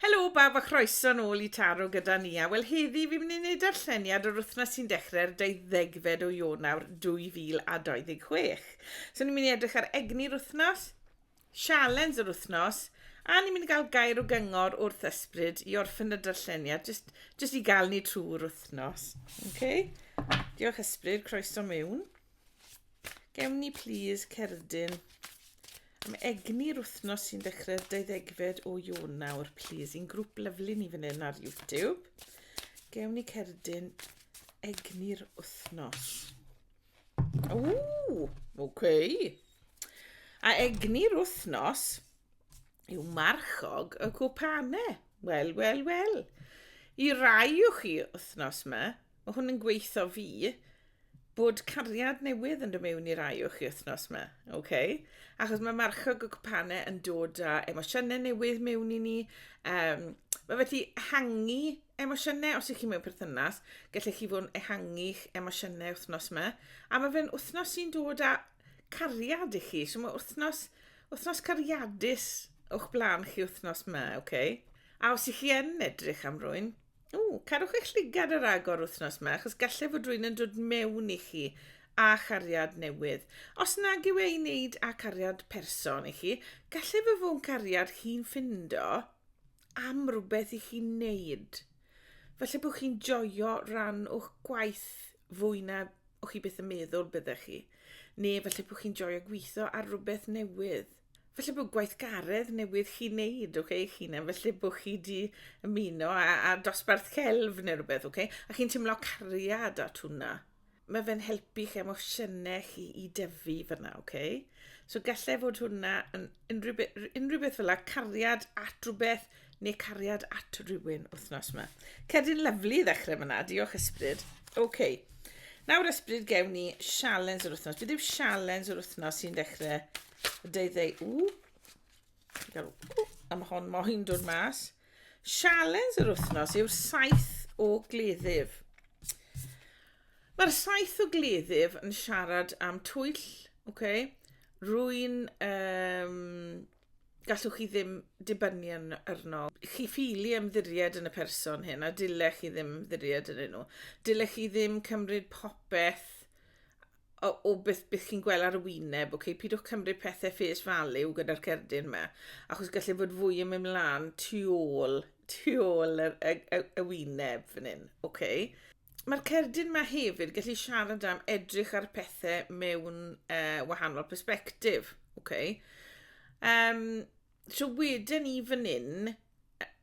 Helo bawb a chroeso'n ôl i Taro gyda ni a wel heddi fi'n mynd i wneud darlleniad o'r wythnos sy'n dechrau'r 20fed o Ionawr 2026. So ni'n mynd i edrych ar egni'r wythnos, sialens yr wythnos a ni'n mynd i gael gair o gyngor wrth ysbryd i orffen y darlleniad just, just i gael ni trwy'r wythnos. Okay? Diolch ysbryd, croeso mewn. Gewn ni plîs cerdyn am egni'r wythnos sy'n dechrau'r 20fed o Ionawr, plîs. I'n grŵp lyflu ni fan hyn ar YouTube. Gewn ni cerdyn egni'r wythnos. Ww, oce. Okay. A egni'r wythnos yw marchog y cwpanau. Wel, wel, wel. I rai o chi wythnos yma, Mae hwn yn gweithio fi bod cariad newydd yn dod mewn i'r rai o'ch wythnos yma, oce? Okay? Achos mae marchog y cwpanau yn dod â emosiynau newydd mewn i ni. Um, mae felly ehangu emosiynau, os ych chi mewn perthynas, gallech chi fod yn ehangu'ch emosiynau wythnos yma. A mae fe'n wythnos sy'n dod â cariad i chi, so mae wythnos, wythnos cariadus o'ch blaen chi wythnos yma, oce? Okay? A os ych chi yn edrych am rwy'n, Ww, carwch eich llygad ar agor wythnos yma, achos gallai fod rwy'n yn dod mewn i chi a chariad newydd. Os nag yw ei wneud â cariad person i chi, gallai fy fwn cariad chi'n ffindo am rhywbeth i chi'n neud. Felly bod chi'n joio rhan o'ch gwaith fwy na o'ch chi beth yn meddwl byddech chi. Neu felly bod chi'n joio gweithio ar rhywbeth newydd. falle bod gweithgaredd newydd chi wneud ok eich hunan felly bo' chi 'di ymuno a a dosbarth celf ne' rwbeth ok a chi'n timlo cariad at hwnna ma' fe'n helpu 'ych emosiyne chi i dyfu fyna ok so gallai fod hwnna yn unrhyw be- r- unrhyw beth fela cariad at rwbeth ne' cariad at rywun wthnos 'ma. Cerdyn lyfli i ddechre fyna diolch ysbryd. Ok. Nawr ysbryd gewn ni sialens yr wthnos beth yw sialens yr wthnos sy'n dechre deuddeg... Ww! A mae hon moyn dod mas. Sialens yr wythnos yw'r saith o gleddyf. Mae'r saith o gleddyf yn siarad am twyll, okay? rwy'n... Um, gallwch chi ddim dibynnu yn arno. Chi ffili ymddiried yn y person hyn a dylech chi ddim ymddiried yn nhw. Dylech chi ddim cymryd popeth o, o beth, beth chi'n gweld ar y wyneb, okay? pidwch cymryd pethau face value gyda'r cerdyn yma, achos gallai fod fwy yn mynd mlaen tu ôl, tu ôl y, y, y, y wyneb fan hyn. Okay? Mae'r cerdyn yma hefyd gallu siarad am edrych ar pethau mewn uh, wahanol perspektif. Okay? Um, so wedyn ni fan hyn,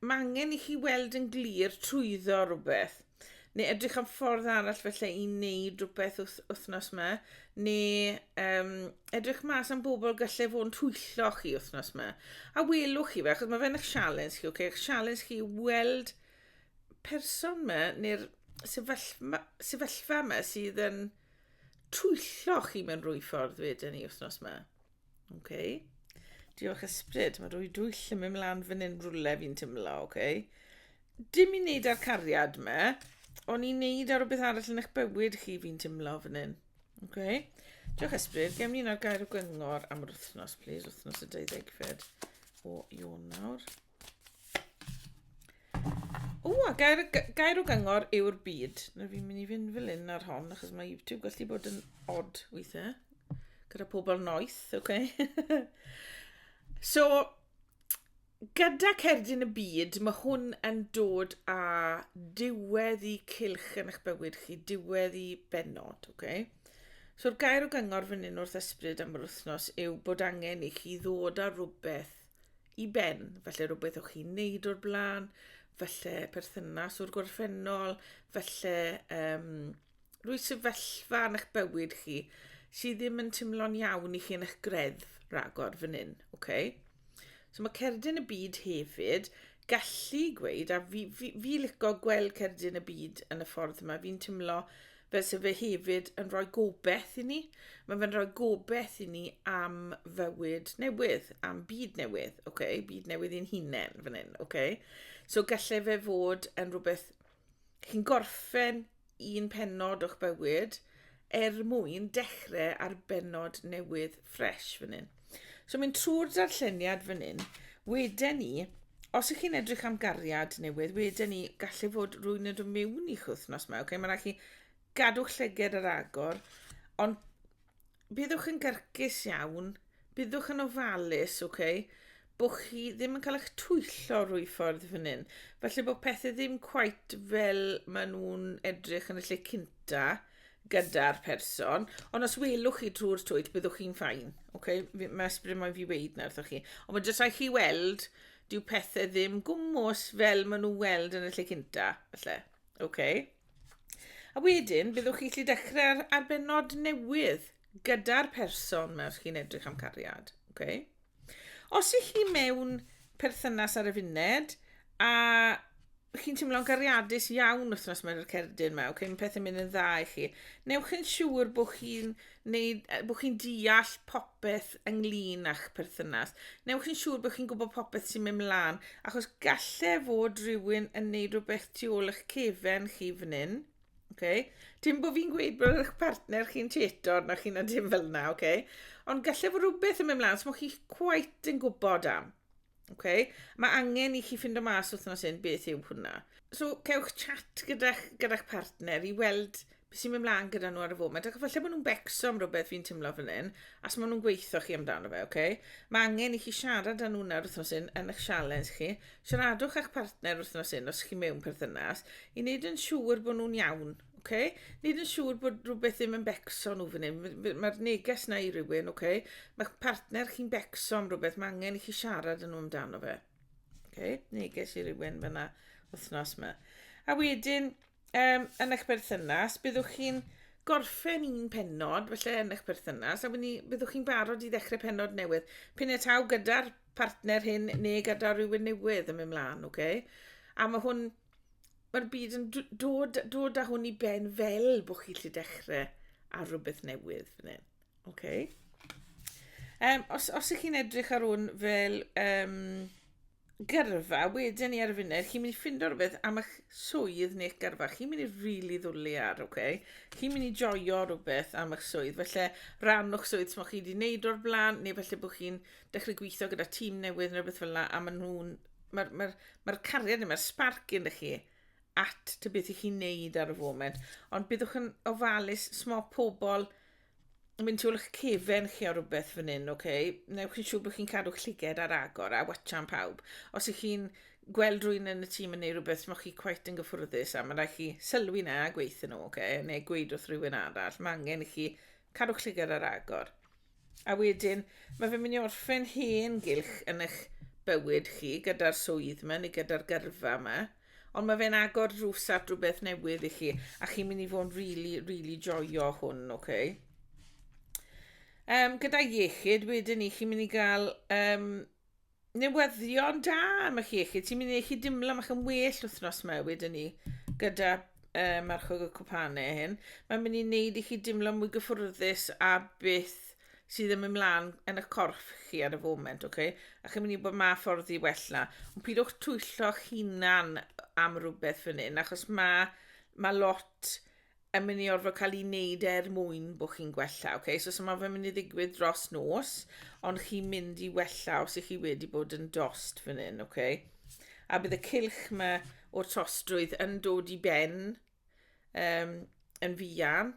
mae angen i chi weld yn glir trwyddo rhywbeth, neu edrych am ffordd arall felly i wneud rhywbeth wrth, wythnos yma, neu um, edrych mas am bobl gallai fod yn twyllo chi wythnos yma. A welwch chi fe, achos mae fe'n eich sialens chi, okay? eich sialens chi weld person yma, neu'r sefyllfa, sefyllfa yma sydd yn twyllo chi mewn rhywbeth ffordd wedyn ni wythnos yma. Oce. Okay. Diolch ysbryd. Mae rwy dwyll yn mynd mlaen fan hyn rwle fi'n tymlo, oce. Okay. Dim i wneud â'r cariad me, ond i wneud ar rhywbeth arall yn eich bywyd chi fi'n tymlo fan hyn. Oce. Okay. Diolch ysbryd. Gem ni'n ar gair o gyngor am yr wythnos, please. Wythnos y 20 fed o Ionawr. O, a gair, gair o gyngor yw'r byd. Na fi'n mynd i fynd fel un ar hon, achos mae YouTube gallu bod yn odd weithiau. Gyda pobl noeth, oce? Okay? so, gyda cerdyn y byd, mae hwn yn dod â diwedd i cilch yn eich bywyd chi, diwedd i benod, oce? Okay? So'r gair o gyngor fan hyn wrth ysbryd am yr wythnos yw bod angen i chi ddod â rhywbeth i ben, felly rhywbeth o'ch chi'n neud o'r blaen, felly perthynas o'r gorffennol, felly um, rwy sefyllfa yn eich bywyd chi sydd ddim yn teimlo'n iawn i chi yn eich greddf ragor fan hyn. Okay? So mae cerdyn y byd hefyd gallu gweud, a fi, fi, fi licio gweld cerdyn y byd yn y ffordd yma, fi'n teimlo Fe sy'n fe hefyd yn rhoi gobeith i ni. Mae fe'n rhoi gobeith i ni am fywyd newydd, am byd newydd, okay? byd newydd i'n hunain fan hyn. Okay? So gallai fe fod yn rhywbeth chi'n gorffen un penod o'ch bywyd er mwyn dechrau ar benod newydd ffres fan hyn. So mynd trwy'r darlleniad fan hyn, wedyn ni, os ych chi'n edrych am gariad newydd, wedyn ni gallu fod rwy'n yn dod mewn i'ch wythnos yma, okay? mae'n rhaid chi gadw'ch llyged yr agor, ond byddwch yn gyrcus iawn, byddwch yn ofalus, okay? bo chi ddim yn cael eich twyllo rwy ffordd fan hyn. Felly bod pethau ddim quite fel maen nhw'n edrych yn y lle cynta gyda'r person. Ond os welwch chi drwy'r twyll, byddwch chi'n ffain. Okay? Mae ysbryd moyn fi weid na wrthych chi. Ond mae jyst rhaid chi weld, dyw pethau ddim gwmwys fel maen nhw'n weld yn y lle cynta. Felly, okay? A wedyn, byddwch chi allu dechrau ar, ar benod newydd gyda'r person mewn chi'n edrych am cariad. Okay? Os ych chi mewn perthynas ar y funed a chi'n teimlo'n gariadus iawn wythnos mae'r cerdyn yma, okay, mae pethau'n mynd yn dda i chi, newch yn siŵr bod chi'n bod chi'n deall popeth ynglyn â'ch perthynas. Newch yn siŵr bod chi'n gwybod popeth sy'n mynd mlaen, achos gallai fod rhywun yn neud rhywbeth tu ôl eich cefen chi fan hyn, Okay. Dim bod fi'n gweud bod eich partner chi'n tetor na chi na dim fel yna, okay? ond gallai fod rhywbeth yn mynd mlaen sy'n so chi quite yn gwybod am. Okay? Mae angen i chi ffind o mas wythnos hyn beth yw hwnna. So, cewch chat gyda'ch gyda partner i weld beth sy'n mynd mlaen gyda nhw ar y foment. Ac efallai bod nhw'n becso am rhywbeth fi'n tymlo fan hyn, as maen nhw'n gweithio chi amdano fe, okay? Mae angen i chi siarad â nhw nawr wythnos hyn yn eich sialens chi, Siaradwch â'ch partner wythnos hyn os chi mewn perthynas i wneud yn siŵr bod nhw'n iawn, oce? Okay? Wneud yn siŵr bod rhywbeth ddim yn becso nhw fan hyn. Mae'r neges na i rywun, oce? Okay? Mae'ch partner chi'n becso am rhywbeth, mae angen i chi siarad yn nhw amdano fe. Oce? Okay? Neges i rywun fyna wythnos yma. A wedyn, um, yn eich berthynas, byddwch chi'n gorffen un penod, felly yn eich perthynas, a ni, byddwch chi'n barod i ddechrau penod newydd. Pyn e taw gyda'r partner hyn neu gyda rhywun newydd yn mynd mlaen, oce? Okay? A mae hwn, mae'r byd yn dod, dod â hwn i ben fel bod chi lle dechrau ar rhywbeth newydd fan hyn. Okay. Um, os, os ych chi'n edrych ar hwn fel um, gyrfa wedyn ni ar y funud, chi'n mynd i ffindo rhywbeth am eich swydd neu'ch gyrfa. Chi'n mynd i rili really ddwlu ar, oce? Chi'n mynd i joio rhywbeth am eich swydd. Felly, rhan o'ch swydd sy'n chi wedi wneud o'r blaen, neu felly bod chi'n dechrau gweithio gyda tîm newydd neu rhywbeth fel yna, a maen nhw'n... Mae'r ma ma cariad yma, sparc yn chi at ty beth i chi'n neud ar y foment. Ond byddwch yn ofalus, smo pobl, mynd trwy'ch cefen chi o rhywbeth fan hyn, ok? Newch chi'n siŵr bod chi'n cadw'ch llyged ar agor a watchan pawb. Os ych chi'n gweld rwy'n yn y tîm yn ei rhywbeth sy'n chi cweit yn gyffwrddus a mae'n rhaid chi sylwi na a gweithio nhw, ok? Neu gweud wrth rhywun arall, mae angen i chi cadw'ch llyged ar agor. A wedyn, mae fe'n mynd i orffen hen gylch yn eich bywyd chi gyda'r swydd yma neu gyda'r gyrfa yma. Ond mae fe'n agor drws at rhywbeth newydd i chi, a chi'n mynd i fod yn really, really joio hwn, oce? Okay? Um, gyda iechyd, wedyn ni, chi'n mynd i gael um, newyddion da am eich iechyd. Ti'n mynd i eich dimlo, mae'ch yn well wythnos yma, wedyn ni, gyda um, marchog y cwpanau hyn. Mae'n mynd i wneud i chi dimlo mwy gyffwrddus a beth sydd yn mynd mlaen yn y corff chi ar y foment, okay? a chi'n mynd i bod ma ffordd i wella. Ond pidwch twyllo'ch hunan am rhywbeth fan hyn, achos mae ma lot yn mynd i orfod cael ei wneud er mwyn bod chi'n gwella. Okay? So, so mae fe'n mynd i ddigwydd dros nos, ond chi'n mynd i wella os ych chi wedi bod yn dost fan hyn. Okay? A bydd y cilch mae o'r tostrwydd yn dod i ben um, yn fuan,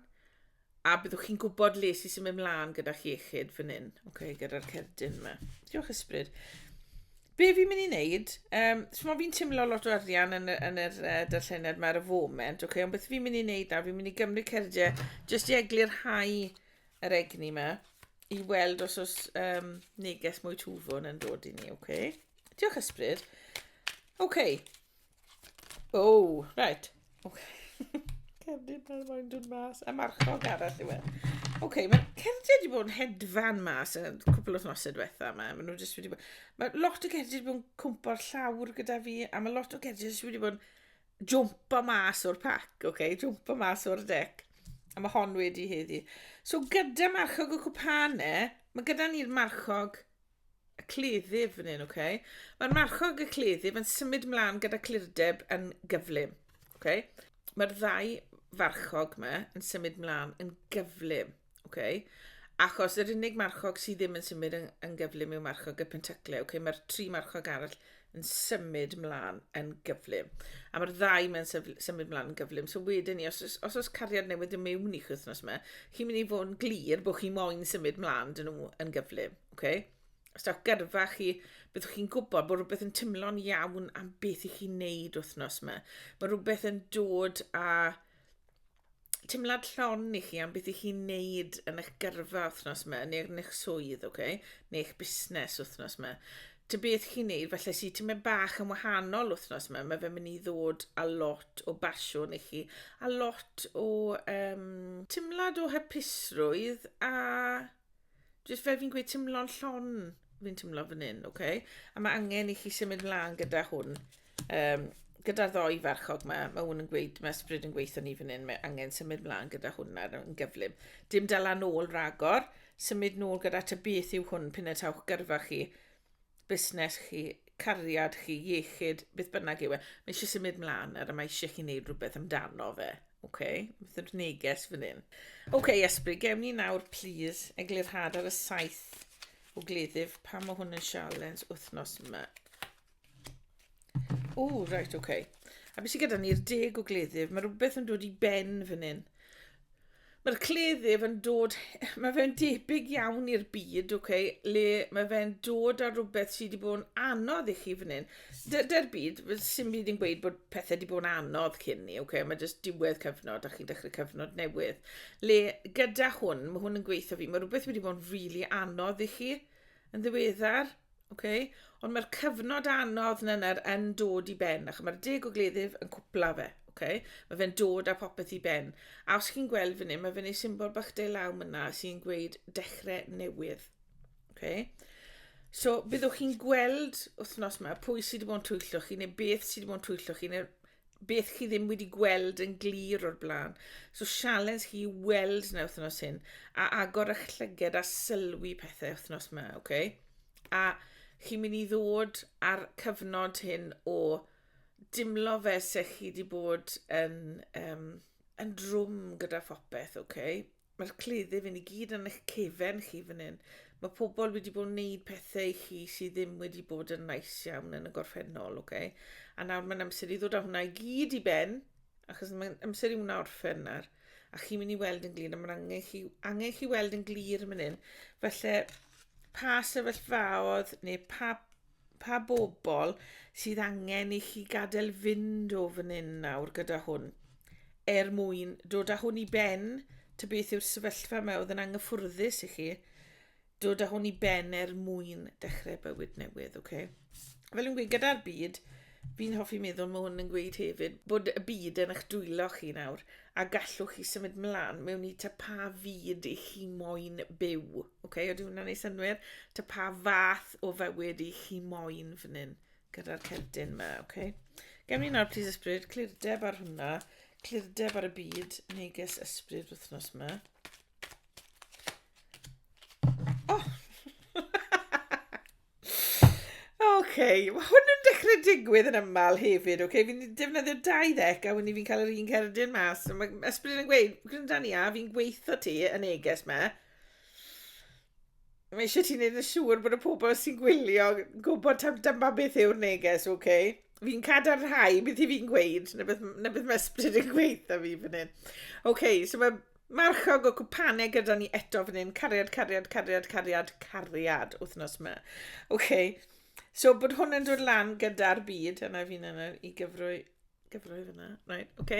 a byddwch chi'n gwybod le sy'n symud mlaen gyda'ch iechyd fan hyn, okay, gyda'r cerdyn yma. Diolch ysbryd. Be fi'n mynd i wneud, um, so fi'n teimlo lot o arian yn, yn yr uh, darlleniad yma ar y foment, okay, ond beth fi'n mynd i wneud nawr, fi'n mynd i gymryd cerdiau jyst i eglu'r hau yr egni yma i weld os oes um, neges mwy twfwn yn dod i ni, okay? Diolch ysbryd. Okay, Oh, right. Okay. Cerdyn ar moyn dod mas. A marchog arall yw e. Oce, okay, mae cerdiau wedi bod yn hedfan mas yn cwpl o'r nosau diwetha yma. Mae nhw jyst wedi bod... Mae lot o cerdiau wedi bod yn cwmpo'r llawr gyda fi, a mae lot o cerdiau jyst wedi bod yn jwmpo mas o'r pac, oce? Okay? Jwmpo mas o'r dec. A mae hon wedi heddi. So gyda marchog y cwpane, mae gyda ni'r marchog y cleddyf fan hyn, oce? Mae'r marchog y cleddyf yn symud mlaen gyda clirdeb yn gyflym, oce? Mae'r ddau farchog yma yn symud mlaen yn gyflym, oce? Achos yr unig marchog sydd ddim yn symud yn, yn gyflym yw marchog y pentacle, oce? Mae'r tri marchog arall yn symud mlaen yn gyflym. A mae'r ddau mae'n symud mlaen yn gyflym. So wedyn ni, os, os oes cariad newydd yn mewn i chi wythnos yma, chi'n mynd i fod yn glir bod chi moyn symud mlaen dyn nhw yn gyflym. Okay? Os dawch gyrfa chi, byddwch chi'n gwybod bod rhywbeth yn tymlo'n iawn am beth i chi'n neud wythnos yma. Mae rhywbeth yn dod a teimlad llon i chi am beth i chi'n neud yn eich gyrfa wythnos yma, neu yn eich swydd, okay? neu eich busnes wythnos yma. Ty beth chi'n neud, felly sy'n ti'n mynd bach yn wahanol wythnos yma, mae fe'n mynd i ddod a lot o basiwn i chi, a lot o um, teimlad o hypusrwydd a Jyst fel fi'n gweud timlo'n llon fi'n timlo fan hyn, oce? Okay? A mae angen i chi symud mlaen gyda hwn. Um, gyda'r ddoi farchog mae, mae hwn yn gweud, mae ysbryd yn gweithio ni fan hyn, mae angen symud mlaen gyda hwn ar yn gyflym. Dim dal â nôl ragor, symud nôl gyda ta beth yw hwn pyn y tawch gyrfa chi. busnes chi, cariad chi, iechyd, beth bynnag yw e, mae eisiau symud mlaen ar y mae eisiau chi wneud rhywbeth amdano fe. OK, beth yw'r neges fan hyn? OK, Esbri, gewn ni nawr, please, eglurhad ar y saith o gleddyf pa mae hwn yn sialens wythnos yma. O, reit, oce. Okay. A beth sydd gyda ni'r deg o gleddyf? Mae rhywbeth yn dod i ben fan hyn. Mae'r cleddyf yn dod, mae fe'n debyg iawn i'r byd, oce, okay, le mae fe'n dod ar rhywbeth sydd wedi bod yn anodd i chi fan hyn. Dy'r byd, sy'n byd yn gweud bod pethau wedi bod yn anodd cyn ni, oce, okay, mae jyst diwedd cyfnod a chi'n dechrau cyfnod newydd. Le gyda hwn, mae hwn yn gweithio fi, mae rhywbeth wedi bod yn rili really anodd i chi yn ddiweddar, Ok, ond mae'r cyfnod anodd na na'r yn dod i ben, ac mae'r deg o gleddyf yn cwpla fe. Okay? Mae fe'n dod â popeth i ben. A os chi'n gweld fan hyn, mae fe'n ei symbol bach de law myna sy'n gweud dechrau newydd. Okay? So, fyddwch chi'n gweld wythnos yma pwy sydd wedi bod yn twyllo chi neu beth sydd wedi bod yn twyllo chi neu beth chi ddim wedi gweld yn glir o'r blaen. So sialens chi weld na wythnos hyn, a agor eich llyged a sylwi pethau wythnos yma, oce? Okay? A chi'n mynd i ddod ar cyfnod hyn o dimlo fe se chi wedi bod yn, um, yn drwm gyda phopeth, oce? Okay? Mae'r cleddyf yn i gyd yn eich cefen chi fan hyn. Mae pobl wedi bod yn neud pethau i chi sydd ddim wedi bod yn nice iawn yn y gorffennol, oce? Okay? A nawr mae'n amser i ddod â hwnna i gyd i ben, achos mae'n amser i hwnna orffen nawr. A chi'n mynd i weld yn glir, a mae'n angen chi, angen chi weld yn glir yn mynd hyn. Felly, pa sefyllfaodd neu pa Pa bobl sydd angen i chi gadael fynd o fan hyn nawr gyda hwn? Er mwyn dod â hwn i ben, ta beth yw'r sefyllfa yma oedd yn anghyffwrddus i chi? Dod â hwn i ben er mwyn dechrau bywyd newydd, oce? Okay? Fel yn gweud, gyda'r byd, fi'n hoffi meddwl mae hwn yn gweud hefyd bod y byd yn eich dwylo chi nawr, a gallwch chi symud mlaen mewn i ta pa fyd i chi moyn byw. Okay, ydy hwnna'n ei synwyr? Ta pa fath o fywyd i chi moyn fan hyn gyda'r cerdyn yma, okay? Gem ni nawr, please ysbryd, clirdeb ar hwnna, clirdeb ar y byd, neges ysbryd wythnos yma. Oh! Oce, mae hwn yn dechrau digwydd yn ymlaen hefyd, oce? Fi'n defnyddio dau ddec a wedyn fi'n cael yr un cerdyn mas. So mae Esbryd yn gweud, gwranda ni a, fi'n gweithio ti yn neges me. Mae eisiau ti'n neud yn siŵr bod y pobl sy'n gwylio gwybod tam dyma beth yw'r neges, oce? Fi'n cadarnhau beth i fi'n gweud, neu beth, neu beth mae Esbryd yn gweithio fi fan hyn. Oce, so mae Marchog o cwpane gyda ni eto fan hyn. Cariad, cariad, cariad, cariad, cariad wythnos yma. OK. So bod hwn yn dod lan gyda'r byd, yna fi'n yna i gyfrwy, gyfrwy fyna. Right, OK.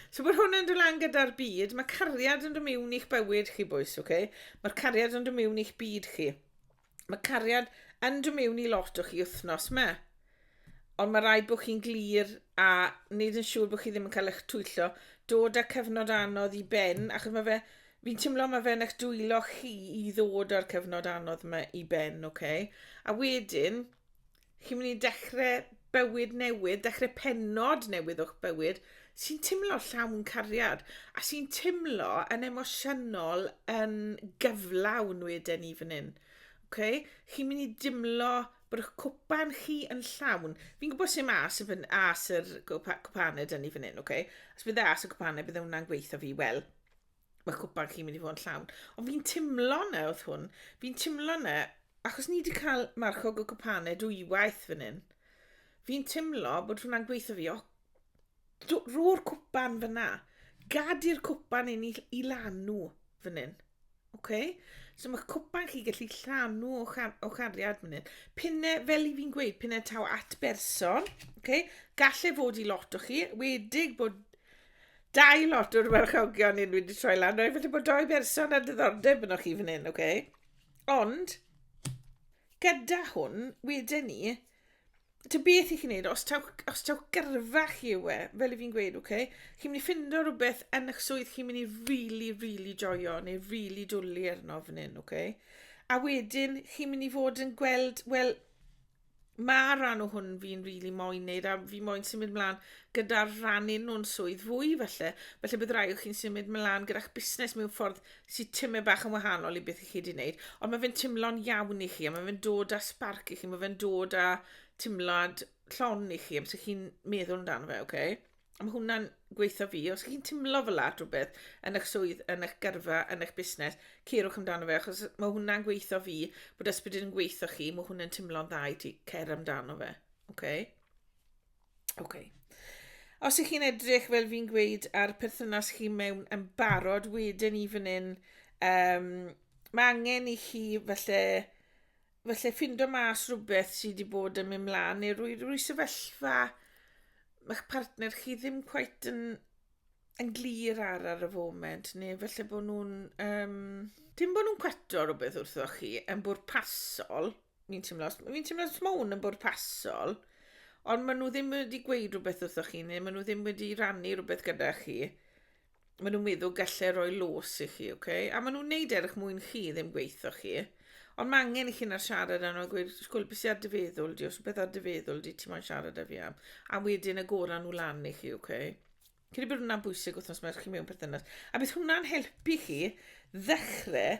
So bod hwn yn dod lan gyda'r byd, mae cariad yn dod mewn i'ch bywyd chi bwys, OK. Mae'r cariad yn dod mewn i'ch byd chi. Mae cariad yn dod mewn i lot o chi wythnos me. Ond mae rhaid bod chi'n glir a wneud yn siŵr bod chi ddim yn cael eich twyllo. Dod â cyfnod anodd i ben, achos mae fe... Fi'n teimlo mae fe'n eich dwylo chi i ddod â'r cyfnod anodd yma i ben, oce? Okay? A wedyn, chi'n mynd i dechrau bywyd newydd, dechrau penod newydd o'ch bywyd, sy'n teimlo llawn cariad, a sy'n teimlo yn emosiynol yn gyflawn wedyn ni fan hyn. Okay? Chi'n mynd i dimlo bod eich cwpan chi yn llawn. Fi'n gwybod sy'n mas y fyn, as yr cwpaned yn ni fan hyn, okay? Os bydd e as y cwpaned, bydd e hwnna'n gweithio fi, wel, mae cwpan chi'n mynd i fod yn llawn. Ond fi'n timlo na oedd hwn, fi'n timlo na, achos ni wedi cael marchog o cwpanau dwywaith fan hyn, fi'n timlo bod hwnna'n gweithio fi, o, ro'r cwpan fyna, gad i'r cwpan un i, i lanw fan hyn. Okay? So mae cwpan chi gallu llanw o, char o chariad fan hyn. Pinne, fel i fi'n gweud, pinne taw at berson. Okay? Galle fod i lot o chi, wedig bod Dau lot o'r warchogion hyn wedi troi lan. Rhaid falle bod doi berson ar diddordeb yno chi fan hyn, oce? Okay? Ond, gyda hwn, wedyn ni, Ty beth i chi wneud, os taw, os taw gyrfa chi yw e, fel i fi'n gweud, oce, okay? chi'n mynd i ffindo rhywbeth yn eich swydd chi'n mynd i really, really joio, neu really dwlu arno fan hyn, oce? Okay? A wedyn, chi'n mynd i fod yn gweld, wel, Mae'r rhan o hwn fi'n rili really moyn neud a fi moyn symud mlaen gyda'r rhannu nhw'n swydd fwy felly. Felly bydd rai o chi'n symud mlaen gyda'ch busnes mewn ffordd sy'n tymau bach yn wahanol i beth i chi wedi wneud. Ond mae fe'n tymlo'n iawn i chi a mae fe'n dod â sparc i chi, mae fe'n dod â tymlad llon i chi am sy'n chi'n meddwl amdano fe, oce? Okay? A mae hwnna'n gweithio fi. Os chi'n timlo fel la rhywbeth yn eich swydd, yn eich gyrfa, yn eich busnes, ceirwch amdano fe, achos mae hwnna'n gweithio fi, bod ysbryd yn gweithio chi, mae hwnna'n timlo'n dda i ti, cer amdano fe. Okay? Okay. Os ych chi'n edrych, fel fi'n gweud, ar perthynas chi mewn yn barod, wedyn i fan hyn, um, mae angen i chi felly falle ffindo mas rhywbeth sydd wedi bod yn mynd mlaen neu rwy, rwy sefyllfa mae'ch partner chi ddim quite yn, yn glir ar ar y foment neu falle bod nhw'n... Um, dim bod nhw'n cweto rhywbeth wrtho chi yn bwrpasol, fi'n teimlo, fi'n teimlo os mae hwn yn bwrpasol, ond maen nhw ddim wedi gweud rhywbeth wrtho chi neu maen nhw ddim wedi rannu rhywbeth gyda chi maen nhw'n meddwl gallai roi los i chi, ok? A maen nhw'n neud erch mwyn chi, ddim gweithio chi. Ond mae angen i chi na'r siarad yna a gweud, sgwyl, beth sy'n ar dy feddwl di, os beth ar dy feddwl di, ti moyn siarad â fi am. A wedyn agoran nhw lan i chi, ok? Credu bod hwnna'n bwysig wrth nos mae'r chi mewn perthynas. A bydd hwnna'n helpu chi ddechrau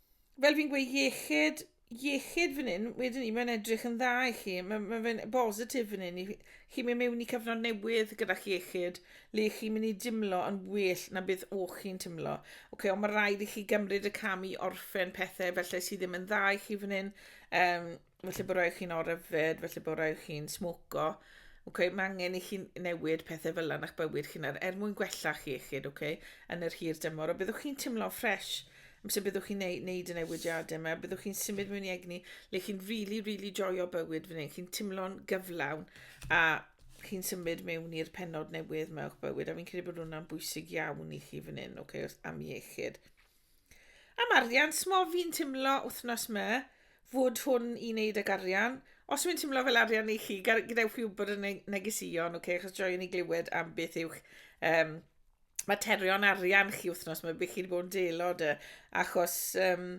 fel fi'n gweud iechyd iechyd fan hyn wedyn ni mae'n edrych yn dda i chi mae ma' fe'n bositif fan hyn i chi chi'n mynd mewn i cyfnod newydd gyda'ch iechyd le chi'n mynd i dimlo yn well na beth o'ch chi'n timlo. Oce, ond mae rhaid i chi gymryd y cam i orffen pethau felly sydd ddim yn dda i chi fan hyn. Um, felly bod rhaid chi'n oryfed, felly bod rhaid chi'n smoco. Okay, mae angen i chi newid pethau fel yna a'ch bywyd chi'n ar, er mwyn gwella chi iechyd okay, yn yr hir dymor. A byddwch chi'n teimlo ffres amser byddwch chi'n neud, neud y newidiadau yma. Byddwch chi'n symud mewn i egni le chi'n really, really joio bywyd fan hyn. Chi'n teimlo'n gyflawn a chi'n symud mewn i'r penod newydd mewn bywyd. A fi'n credu bod hwnna'n bwysig iawn i chi fan hyn, okay, am iechyd. Am arian, smo fi'n timlo wthnos ma fod hwn i wneud ag arian. Os yw'n timlo fel arian i chi, gadewch fi wybod yn y negeseuon, okay? achos joiwn i glywed am beth yw'ch um, materion arian chi wythnos yma, beth chi wedi bod yn delo dy, achos um,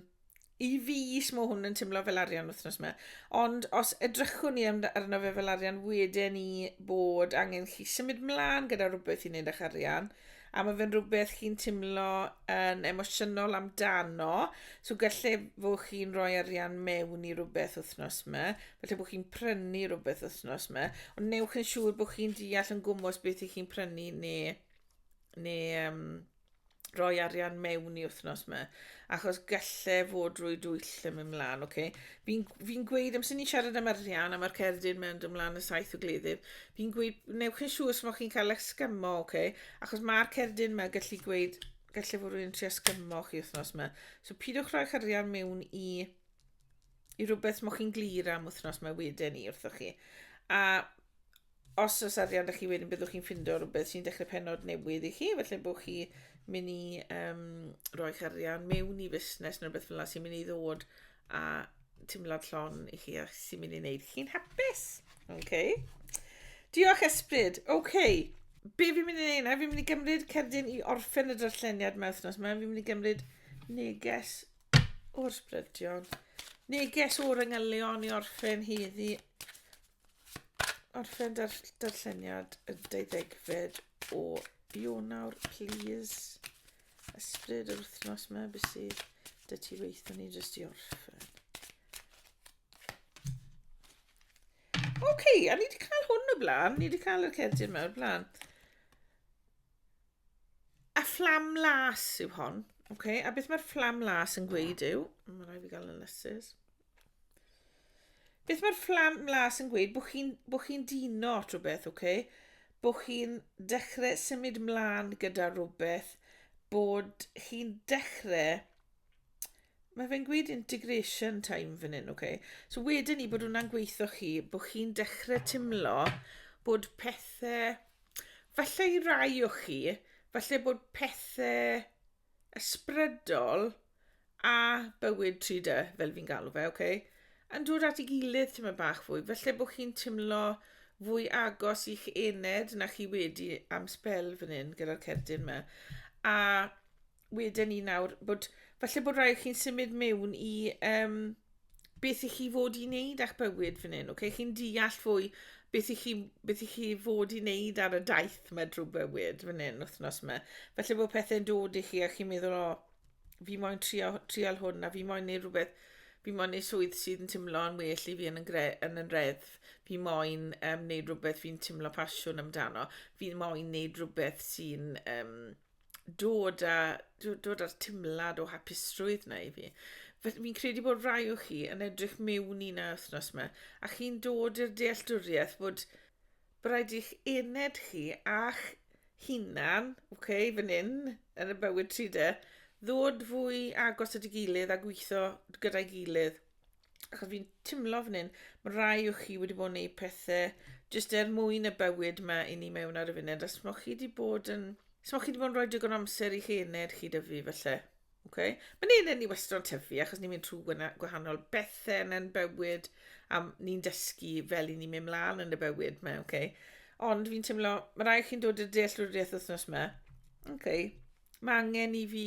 i fi smo hwn yn tymlo fel arian wythnos yma. Ond os edrychwn ni arno fe fel arian, wedyn ni bod angen chi symud mlaen gyda rhywbeth i wneud â'ch arian, a mae fe'n rhywbeth chi'n timlo yn emosiynol amdano, so gallai fod chi'n rhoi arian mewn i rhywbeth wythnos yma, felly bod chi'n prynu rhywbeth wythnos yma, ond newch yn siŵr bod chi'n deall yn gwmwys beth i chi'n prynu neu, neu um, rhoi arian mewn i wythnos yma, achos gallai fod drwy dwyll yn mynd mlaen, okay? Fi'n fi'n gweud amser ni'n siarad am arian a ma'r cerdyn mewn dy mlan y saith o gleddyf, fi'n gweud newch yn siŵr os mod chi'n cael esgymo, oce? Okay? Achos mae'r cerdyn yma gallu gweud, gallu fod rwy'n tri esgymo chi wythnos yma. So pidwch rhoi charian mewn i, i rhywbeth mod chi'n glir am wythnos yma wedyn ni wrthoch chi. A os oes arian â chi wedyn byddwch chi'n ffindo rhywbeth sy'n dechrau penod newydd i chi, felly bod chi mynd i um, roi arian mewn i fusnes neu rhywbeth fel yna sy'n mynd i ddod a teimlad llon i chi a sy'n mynd i wneud chi'n hapus. Okay. Diolch Esbryd. Okay. Be fi'n mynd i wneud na? Fi'n mynd i gymryd cerdyn i orffen y darlleniad mewn wythnos yma. Fi'n mynd i gymryd neges o'r sbrydion. Neges o'r yngylion i orffen heddi orffen dar darlleniad y deuddegfed o Ionawr, please. Ysbryd yr wythnos yma, beth sydd dy ti weithio ni jyst i orffen. Oce, okay, a ni wedi cael hwn o blaen, ni wedi cael y cerdyn yma o blaen. A fflam las yw hon, oce, okay? a beth mae'r fflam las yn gweud yw, mae'n rhaid i gael yn lysus. Beth mae'r fflam las yn gweud? Bwch chi'n bo chi dino at rhywbeth, oce? Okay? Bwch chi'n dechrau symud mlaen gyda rhywbeth, bod chi'n dechrau... Mae fe'n gweud integration time fan hyn, oce? Okay? So wedyn ni bod hwnna'n gweithio chi, bod chi'n dechrau timlo bod pethau... Falle i rai o chi, falle bod pethau ysbrydol a bywyd tri dy, fel fi'n galw fe, oce? Yn dod at ei gilydd tyma bach fwy, felly bod chi'n timlo fwy agos i'ch ened na chi wedi am spel fan hyn gyda'r cerdyn yma. A wedyn ni nawr, bod, falle bod rhaid chi'n symud mewn i um, beth i chi fod i wneud a'ch bywyd fan hyn, okay? chi'n deall fwy beth i, chi, beth i chi fod i wneud ar y daith mae drwy bywyd fan hyn wythnos yma. Felly bod pethau'n dod i chi a chi'n meddwl, o, oh, fi moyn trio, trial hwn a fi moyn neud rhywbeth, fi moyn neud swydd sydd yn teimlo yn well i fi yn, yngre, yn yn reddf, fi moyn um, neud rhywbeth fi'n teimlo pasiwn amdano, fi moyn neud rhywbeth sy'n um, dod a dw- dod â'r timlad o hapusrwydd 'na i fi. Fe- Fi'n credu bod rai o chi yn edrych mewn i 'na wythnos 'ma a chi'n dod i'r dealltwriaeth bod bo' raid i'ch ened chi a'ch hunan, oce, fan hyn yn y bywyd tri de, ddod fwy agos at 'i gilydd a gwitho gyda'i gilydd. Ac fi'n timlo fan hyn, mae rai o chi wedi bod yn gwneud pethau jyst er mwyn y bywyd mae i ni mewn ar y funud. Os mae chi wedi bod yn... Os mae chi wedi bod yn rhoi digon amser i'ch ened chi dyfu felly. Okay? Mae'n ened ni wastad yn tyfu achos ni'n mynd trwy gwahanol bethau yn ein bywyd a ni'n dysgu fel i ni'n mynd mlaen yn y bywyd mae, okay? Ond fi'n teimlo, mae rai chi'n dod i'r dealltwriaeth wythnos yma. OK. Mae angen i fi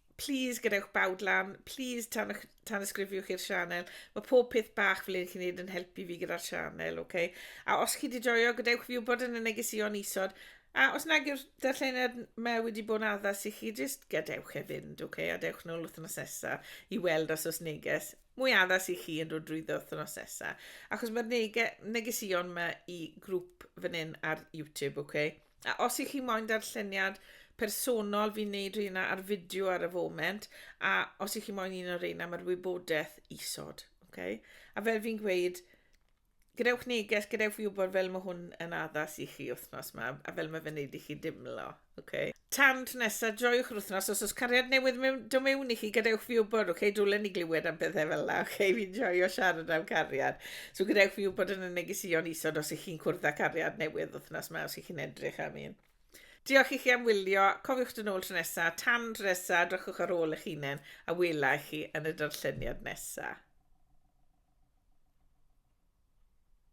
Plis gadewch bawd lan, plis tan, tan ysgrifiwch i'r sianel. Mae pob peth bach fel un chi'n neud yn helpu fi gyda'r sianel, oce? Okay? A os chi wedi joio, gadewch fi wybod yn y negesion isod. A os nag yw'r darlleniad me wedi bod yn addas i chi, jyst gadewch e fynd, oce? Okay? A dewch nôl wythnos nesa i weld os oes neges mwy addas i chi yn dod drwy wythnos nesa. Achos mae'r nege, negesion yma i grŵp fan hyn ar YouTube, oce? Okay? A os ych chi moyn darlleniad personol, fi'n neud rheina ar fideo ar y foment, a os ych chi moyn un o reina, mae'r wybodaeth isod. Okay? A fel fi'n gweud, gadewch neges, gadewch fi wybod fel mae hwn yn addas i chi wythnos yma, a fel mae fe'n neud i chi dimlo. Okay? Tan tro nesa, joiwch yr wythnos, os oes cariad newydd mewn, do mewn i chi, gadewch fi wybod, okay? dwlen ni glywed am bethau fel yna, okay? fi'n joio siarad am cariad. So gadewch fi wybod yn y negeseuon isod os ych chi'n cwrdd â cariad newydd wythnos yma os ych chi'n edrych am un. Diolch i chi am wylio, cofiwch dyn ôl tro nesa, tan tro nesa, drychwch ar ôl eich hunain a wela i chi yn y darlleniad nesa.